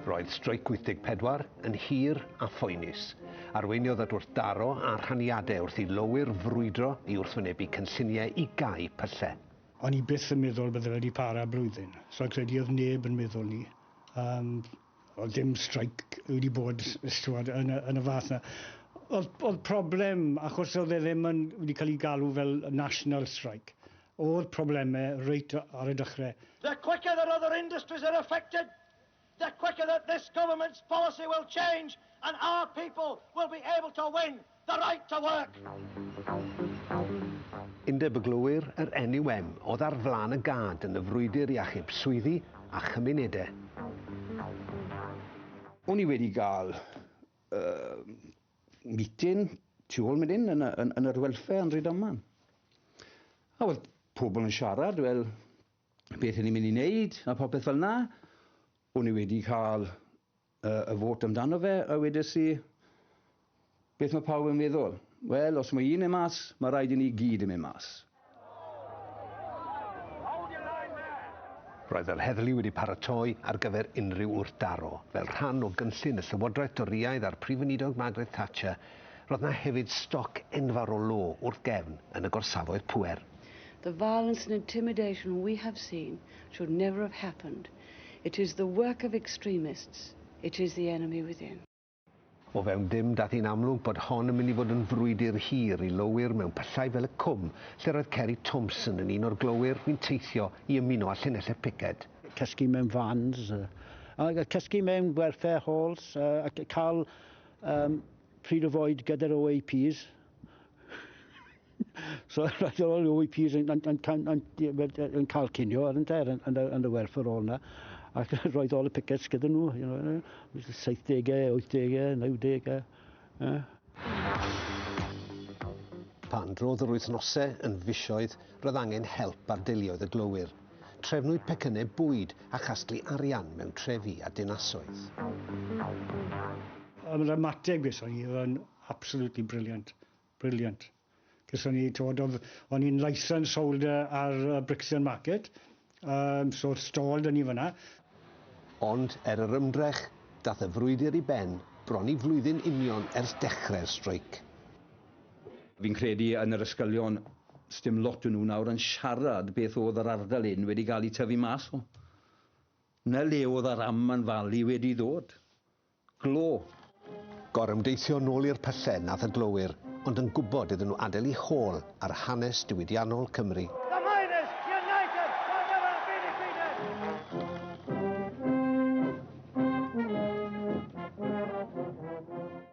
Roedd Streic 84 yn hir a phoenus. Arweiniodd at wrthdaro a rhaniadau wrth i lowyr frwydro i wrthwynebu cynlluniau i gau pyllau. O'n i byth yn meddwl bydde fe wedi para blwyddyn, so credu oedd neb yn meddwl 'ny. Yym. Oedd dim streic wedi bod stwad, yn, y, yn y fath na. Oedd, oedd problem, achos oedd e ddim yn wedi cael ei galw fel national strike, oedd problemau reit ar y dechrau. The quicker that other industries are affected, the quicker that this government's policy will change and our people will be able to win The right to work! Undeb y Glowyr, yr NUM, oedd ar flaen y gad yn y frwydr i achub swyddi a chymunedau. O'n i wedi cael meeting tu ôl mynd hyn yn yr welfare yn Rhydaman. A oedd pobl yn siarad, wel, beth ni'n mynd i wneud a popeth fel na. O'n i wedi cael y fot amdano fe a wedes i, beth mae pawb yn meddwl? Wel, os mae un yn mas, mae rhaid i ni gyd yn mynd mas. Roedd yr heddlu wedi paratoi ar gyfer unrhyw wrthdaro. Fel rhan o gynllun y Llywodraeth Dorïaidd a'r Prif Weinidog Margaret Thatcher, roedd yna hefyd stoc enfawr o lo wrth gefn yn y gorsafoedd pŵer. The violence and intimidation we have seen should never have happened. It is the work of extremists, it is the enemy within. O fewn dim, daeth hi'n amlwg bod hon yn mynd i fod yn frwydr hir i lowyr mewn pyllau fel y Cwm, lle roedd Ceri Thompson yn un o'r glowyr fu'n teithio i ymuno â llinellau'r piced. Cysgu mewn vans, cysgu mewn gwerthau halls, cael pryd o fwyd gyda'r OAPs. so right all the OEPs yn, yn, yn, yn, yn cael cinio ar ynte, yn, yn, yn y werth ar ôl yna. Ac roedd ôl y pickets gyda nhw, you know, 70au, 80au, 90au. Yeah. Pan drodd yr wythnosau yn fisioedd, roedd angen help ar deuluoedd y glowyr. Trefnwyd pecynnau bwyd a chasglu arian mewn trefi a dinasoedd. Mae'r ymateb gyson ni, oedd yn absolutely brilliant. Brilliant. Gethon ni, t'wod, o'dd... O'n i'n licensed holder ar yy Brixton Market, yym so o'dd stall 'da ni fan 'na. Ond er yr ymdrech, dath y frwydr i ben bron i flwyddyn union ers dechre'r streic. Fi'n credu yn yr ysgolion, sdim lot o nhw nawr yn siarad beth o'dd yr ardal hyn wedi ga'l 'i tyfu mas o. 'Na le o'dd yr Amman Valley wedi ddod. Glo! Gorymdeithio nôl i'r pyllau nath y glowyr, ond yn gwybod iddyn nhw adael i hôl ar hanes diwydiannol Cymru.